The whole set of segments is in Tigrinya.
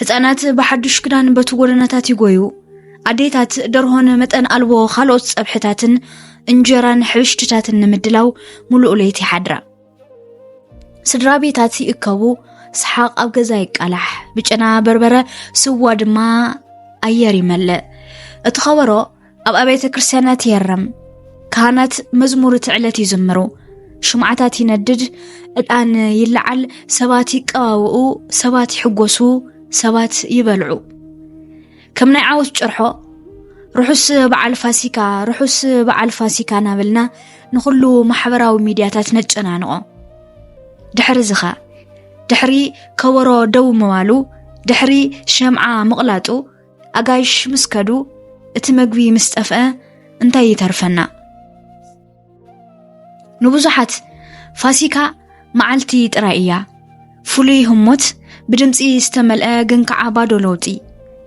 ህፃናት ብሓዱሽ ክዳን በቲ ጎደናታት ይጎዩ። ኣዴታት ደርሆን መጠን ኣልቦ ካልኦት ፀብሕታትን እንጀራን ሕብሽትታትን ንምድላው ሙሉእ ለይቲ ይሓድራ። ስድራ ቤታት ይእከቡ፣ ሰሓቕ ኣብ ገዛ ይቃላሕ፣ ብጨና በርበረ ስዋ ድማ ኣየር ይመልእ። እቲ ኸበሮ ኣብ ኣብያተ ክርስቲያናት የርም፣ ካህናት መዝሙር እቲ ዕለት ይዝምሩ፣ ሽምዓታት ይነድድ፣ ዕጣን ይለዓል፣ ሰባት ይቀባብኡ፣ ሰባት ይሕጎሱ፣ ሰባት ይበልዑ። ከም ናይ ዓወት ጭርሖ ርሑስ በዓል ፋሲካ ርሑስ በዓል ፋሲካ ናበልና ንኹሉ ማሕበራዊ ሚድያታት ነጨናንቖ ድሕሪ ዝኸ ድሕሪ ከበሮ ደው ምባሉ ድሕሪ ሸምዓ ምቕላጡ ኣጋይሽ ምስ ከዱ እቲ መግቢ ምስ ጠፍአ እንታይ ይተርፈና? ንብዙሓት ፋሲካ መዓልቲ ጥራይ እያ። ፍሉይ ህሞት፣ ብድምፂ ዝተመልአ ግን ከዓ ባዶ ለውጢ።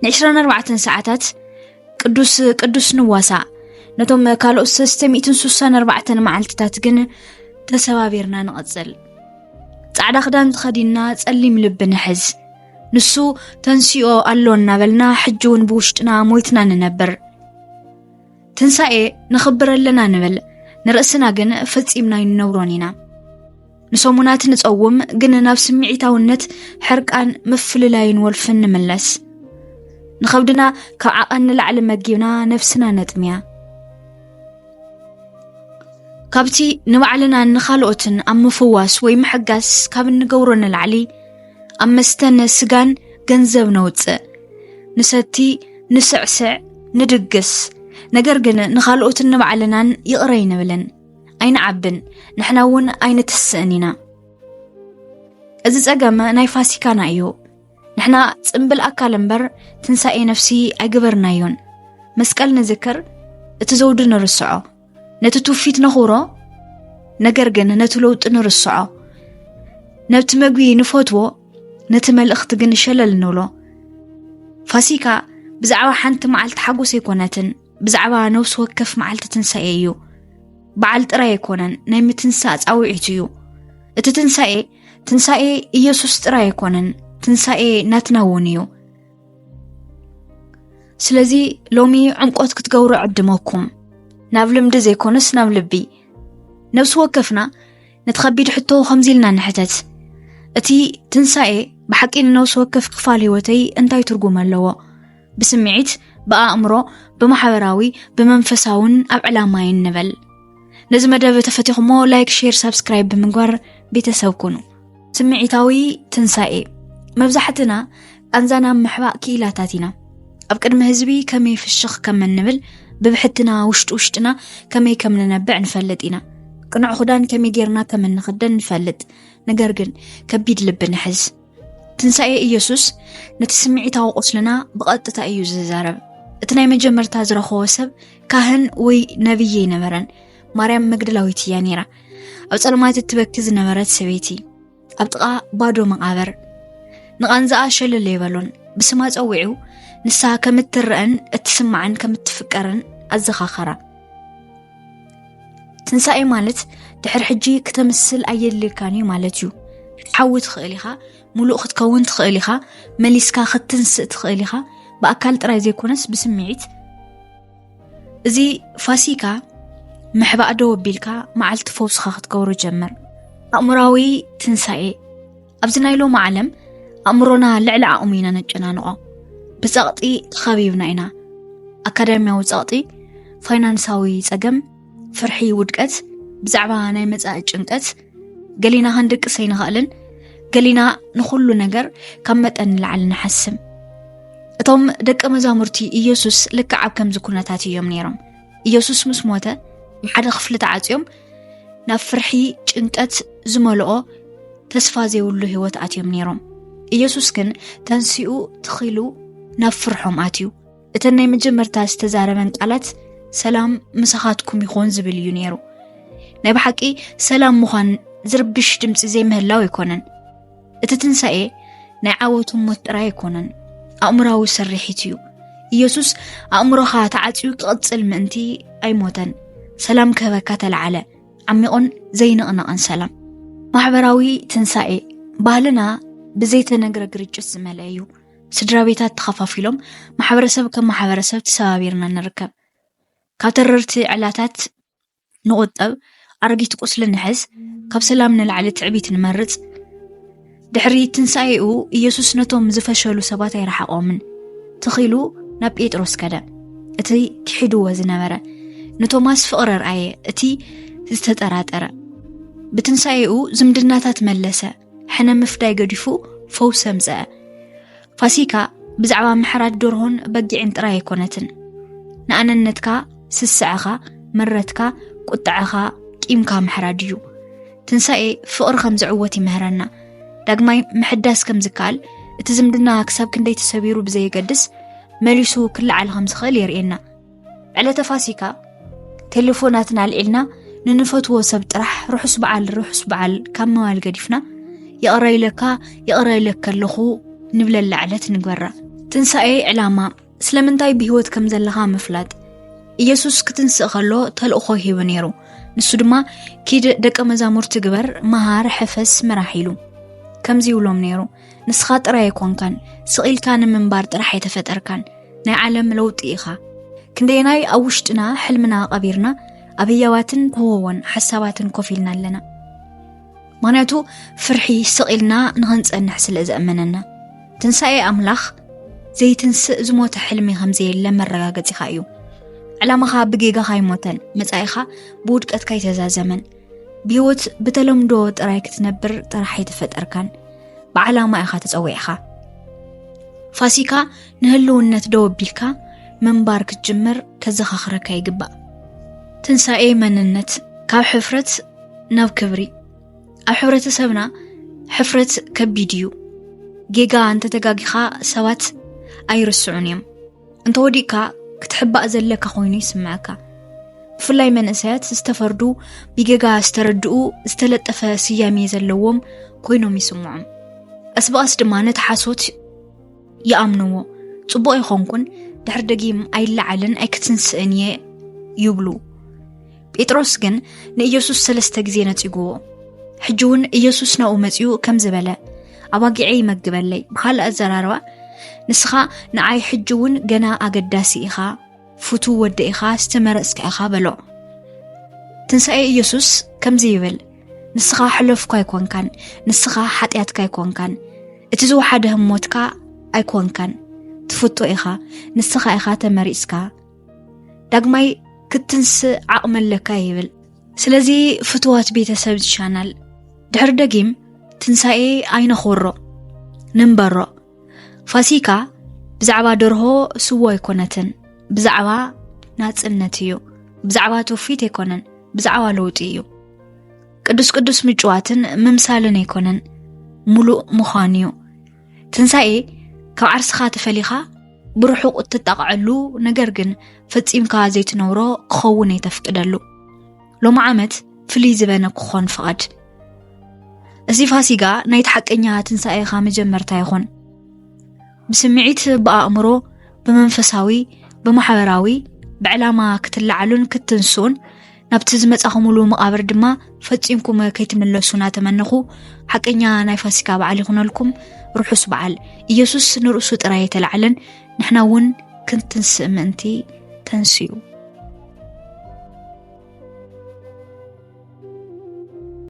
ን24 ሰዓታት ቅዱስ ቅዱስ ንዋሳእ። ነቶም ካልኦት 364 መዓልትታት ግን ተሰባቢርና ንቐፅል። ፃዕዳ ክዳን ተኸዲንና ፀሊም ልቢ ንሕዝ። ንሱ ተንሲኦ ኣሎ እናበልና ሕጂ እውን ብውሽጥና ሞይትና ንነብር ትንሳኤ ንኽብር ኣለና ንብል ንርእስና ግን ፈጺምና ይንነብሮን ኢና ንሰሙናት ንጸውም ግን ናብ ስምዒታውነት ሕርቃን ምፍልላይን ወልፍን ንምለስ ንኸብድና ካብ ዓቐን ንላዕሊ መጊብና ነብስና ነጥምያ ካብቲ ንባዕልናን ንኻልኦትን ኣብ ምፍዋስ ወይ ምሕጋስ ካብ እንገብሮ ንላዕሊ ኣብ መስተን ስጋን ገንዘብ ነውፅእ፣ ንሰቲ፣ ንስዕስዕ፣ ንድግስ፣ ነገር ግን ንኻልኦትን ንባዕልናን ይቕረ ኣይንብልን፣ ኣይንዓብን፣ ንሕና እውን ኣይንትስእን ኢና። እዚ ጸገም ናይ ፋሲካና እዩ። ንሕና ጽምብል ኣካል እምበር ትንሳኤ ነፍሲ ኣይግበርናዮን። መስቀል ንዝክር፣ እቲ ዘውዲ ንርስዖ። ነቲ ትውፊት ነኽብሮ፣ ነገር ግን ነቲ ለውጢ ንርስዖ። ነብቲ መግቢ ንፈትዎ፣ ነቲ መልእኽቲ ግን ሸለል ንብሎ። ፋሲካ ብዛዕባ ሓንቲ መዓልቲ ሓጎስ ኣይኮነትን፣ ብዛዕባ ነብሲ ወከፍ መዓልቲ ትንሳኤ እዩ። በዓል ጥራይ ኣይኮነን፣ ናይ ምትንሳእ ፃውዒት እዩ። እቲ ትንሳኤ ትንሳኤ ኢየሱስ ጥራይ ኣይኮነን፣ ትንሳኤ ናትና እውን እዩ። ስለዚ ሎሚ ዕምቆት ክትገብሩ ዕድመኩም ናብ ልምዲ ዘይኮነስ ናብ ልቢ ነብሲ ወከፍና ነቲ ከቢድ ሕቶ ከምዚ ኢልና ንሕተት እቲ ትንሳኤ ብሓቂ ንነብሲ ወከፍ ክፋል ህይወተይ እንታይ ትርጉም ኣለዎ ብስምዒት ብኣእምሮ ብማሕበራዊ ብመንፈሳውን ኣብ ዕላማይን ንበል ነዚ መደብ ተፈቲኹሞ ላይክ ሼር ሳብስክራይብ ብምግባር ቤተሰብ ኩኑ ስምዒታዊ ትንሳኤ መብዛሕትና ቃንዛ ናብ ምሕባእ ክኢላታት ኢና ኣብ ቅድሚ ህዝቢ ከመይ ፍሽኽ ከም እንብል ብብሕትና ውሽጢ ውሽጥና ከመይ ከም ንነብዕ ንፈልጥ ኢና ቅኑዕ ክዳን ከመይ ጌርና ከም እንኽደን ንፈልጥ ነገር ግን ከቢድ ልቢ ንሕዝ ትንሳኤ ኢየሱስ ነቲ ስምዒታዊ ቁስልና ብቐጥታ እዩ ዝዛረብ እቲ ናይ መጀመርታ ዝረኸቦ ሰብ ካህን ወይ ነብይ ኣይነበረን ማርያም መግደላዊት እያ ነይራ። ኣብ ጸልማት እትበኪ ዝነበረት ሰበይቲ ኣብ ጥቓ ባዶ መቓብር ንቓንዛኣ ሸለለ ይበሎን ብስማ ጸዊዑ ንሳ ከም እትረአን እትስማዕን ከም እትፍቀርን ኣዘኻኸራ። ትንሳኤ ማለት ድሕሪ ሕጂ ክተምስል ኣየድልየካን እዩ ማለት እዩ ክትሓዊ ትኽእል ኢኻ ሙሉእ ክትከውን ትኽእል ኢኻ መሊስካ ክትንስእ ትኽእል ኢኻ ብኣካል ጥራይ ዘይኮነስ ብስምዒት እዚ ፋሲካ ምሕባእ ደው ኣቢልካ መዓልቲ ፈውስኻ ክትገብሮ ጀምር ኣእምራዊ ትንሳኤ ኣብዚ ናይ ሎሚ ዓለም ኣእምሮና ልዕሊ ዓቕሙ ኢና ነጨናንቖ ብፀቕጢ ተኸቢብና ኢና ኣካዳሚያዊ ፀቕጢ ፋይናንሳዊ ፀገም ፍርሒ ውድቀት ብዛዕባ ናይ መፃኢ ጭንቀት ገሊና ክንድቅስ ኣይንኽእልን ገሊና ንኹሉ ነገር ካብ መጠን ንላዕሊ ንሓስም እቶም ደቂ መዛሙርቲ ኢየሱስ ልክዕ ኣብ ከምዚ ኩነታት እዮም ነይሮም ኢየሱስ ምስ ሞተ ሓደ ክፍሊ ተዓፅዮም ናብ ፍርሒ ጭንቀት ዝመልኦ ተስፋ ዘይብሉ ህይወት ኣትዮም ነይሮም ኢየሱስ ግን ተንስኡ ትኺሉ ናብ ፍርሖም ኣትዩ እተን ናይ መጀመርታ ዝተዛረበን ቃላት ሰላም ምሳኻትኩም ይኾን ዝብል እዩ ነይሩ ናይ ብሓቂ ሰላም ምዃን ዝርብሽ ድምፂ ዘይምህላው ኣይኮነን እቲ ትንሳኤ ናይ ዓወቱ ሞት ጥራይ ኣይኮነን ኣእምራዊ ስርሒት እዩ ኢየሱስ ኣእምሮኻ ተዓፅዩ ክቕፅል ምእንቲ ኣይሞተን ሰላም ክህበካ ተለዓለ ዓሚቑን ዘይንቕነቕን ሰላም ማሕበራዊ ትንሳኤ ባህልና ብዘይተነግረ ግርጭት ዝመልአ እዩ ስድራ ቤታት ተኸፋፊሎም ማሕበረሰብ ከም ማሕበረሰብ ተሰባቢርና ንርከብ። ካብ ተረርቲ ዕላታት ንቑጠብ፣ ኣረጊት ቁስሊ ንሕዝ፣ ካብ ሰላም ንላዕሊ ትዕቢት ንመርጽ። ድሕሪ ትንሣኤኡ ኢየሱስ ነቶም ዝፈሸሉ ሰባት ኣይረሓቖምን። ትኺሉ ናብ ጴጥሮስ ከደ። እቲ ክሒድዎ ዝነበረ ንቶማስ ፍቕሪ ርኣየ፣ እቲ ዝተጠራጠረ ብትንሣኤኡ ዝምድናታት መለሰ። ሕነ ምፍዳይ ገዲፉ ፈውሲ ኣምፀአ። ፋሲካ ብዛዕባ ምሕራድ ደርሆን በጊዕን ጥራይ ኣይኮነትን ንኣነነትካ ስስዐኻ ምረትካ ቁጥዐኻ ቂምካ ምሕራድ እዩ ትንሳኤ ፍቕሪ ከም ዝዕወት ይምህረና ዳግማይ ምሕዳስ ከም ዝከኣል እቲ ዝምድና ክሳብ ክንደይ ተሰቢሩ ብዘየገድስ መሊሱ ክለዓል ከም ዝኽእል የርእየና ዕለተ ፋሲካ ቴሌፎናትና ኣልዒልና ንንፈትዎ ሰብ ጥራሕ ርሑስ በዓል ርሑስ በዓል ካብ መባል ገዲፍና ይቕረ ኢለካ ይቕረ ኢለካ ኣለኹ ንብለላ ዕለት ንግበራ ትንሣኤ ዕላማ ስለምንታይ ብህይወት ከም ዘለኻ ምፍላጥ ኢየሱስ ክትንስእ ከሎ ተልእኾ ሂቡ ነይሩ ንሱ ድማ ኪድ ደቀ መዛሙርቲ ግበር መሃር ሕፈስ ምራሕ ኢሉ ከምዚ ይብሎም ነይሩ ንስኻ ጥራይ ኣይኮንካን ስቕ ኢልካ ንምንባር ጥራሕ ኣይተፈጠርካን ናይ ዓለም ለውጢ ኢኻ ክንደየናይ ኣብ ውሽጥና ሕልምና ቀቢርና ኣብ ህያባትን ክወዎን ሓሳባትን ኮፍ ኢልና ኣለና ምክንያቱ ፍርሒ ስቕ ኢልና ንኽንጸንሕ ስለ ዘእመነና ትንሳኤ ኣምላኽ ዘይትንስእ ዝሞተ ሕልሚ ከም ዘየለ መረጋገጺኻ እዩ ዕላማኻ ብጌጋኻ ኣይሞተን መጻኢኻ ብውድቀትካ ኣይተዛዘመን ብህይወት ብተለምዶ ጥራይ ክትነብር ጥራሕ ኣይተፈጠርካን ብዓላማ ኢኻ ተፀዊዕኻ ፋሲካ ንህልውነት ደው ኣቢልካ ምንባር ክትጅምር ከዘኻኽረካ ይግባእ ትንሣኤ መንነት ካብ ሕፍረት ናብ ክብሪ ኣብ ሕብረተሰብና ሕፍረት ከቢድ እዩ ጌጋ እንተተጋጊኻ ሰባት ኣይርስዑን እዮም እንተወዲእካ ክትሕባእ ዘለካ ኮይኑ ይስምዐካ ብፍላይ መንእሰያት ዝተፈርዱ ብጌጋ ዝተረድኡ ዝተለጠፈ ስያሜ ዘለዎም ኮይኖም ይስምዖም ቀስ ብቐስ ድማ ነቲ ሓሶት ይኣምንዎ ፅቡቕ ይኾንኩን ድሕር ደጊም ኣይለዓልን ኣይክትንስእን እየ ይብሉ ጴጥሮስ ግን ንኢየሱስ ሰለስተ ግዜ ነጺጉዎ ሕጂ እውን ኢየሱስ ናብኡ መጺኡ ከም ዝበለ ኣባጊዐ ይመግበለይ ብካልእ ኣዘራርባ ንስኻ ንዓይ ሕጂ እውን ገና ኣገዳሲ ኢኻ ፍቱ ወደ ኢኻ ዝተመረጽካ ኢኻ በሎ ትንሣኤ ኢየሱስ ከምዚ ይብል ንስኻ ሕለፍኳ ኣይኮንካን ንስኻ ሓጢኣትካ ኣይኮንካን እቲ ዝወሓደ ህሞትካ ኣይኮንካን ትፍቶ ኢኻ ንስኻ ኢኻ ተመሪጽካ ዳግማይ ክትንስእ ዓቕሚ ኣለካ ይብል ስለዚ ፍትዋት ቤተሰብ ዝቻናል ድሕሪ ደጊም ትንሳኤ ኣይነኽብሮ ንንበሮ ፋሲካ ብዛዕባ ደርሆ ስዎ ኣይኮነትን ብዛዕባ ናፅነት እዩ ብዛዕባ ትውፊት ኣይኮነን ብዛዕባ ለውጢ እዩ ቅዱስ ቅዱስ ምጭዋትን ምምሳልን ኣይኮነን ሙሉእ ምዃን እዩ ትንሣኤ ካብ ዓርስኻ ተፈሊኻ ብርሑቕ እትጣቕዐሉ ነገር ግን ፈጺምካ ዘይትነብሮ ክኸውን የተፍቅደሉ ሎሚ ዓመት ፍልይ ዝበነ ክኾን ፍቓድ እዚ ፋሲጋ ናይቲ ሓቀኛ ትንሣኤኻ መጀመርታ ይኹን ብስምዒት ብኣእምሮ ብመንፈሳዊ ብማሕበራዊ ብዕላማ ክትለዓሉን ክትንስኡን ናብቲ ዝመጻኹምሉ መቓብር ድማ ፈጺምኩም ከይትምለሱ እናተመነኹ ሓቀኛ ናይ ፋሲካ በዓል ይኹነልኩም ርሑስ በዓል ኢየሱስ ንርእሱ ጥራይ የተላዕለን ንሕና እውን ክንትንስእ ምእንቲ ተንስኡ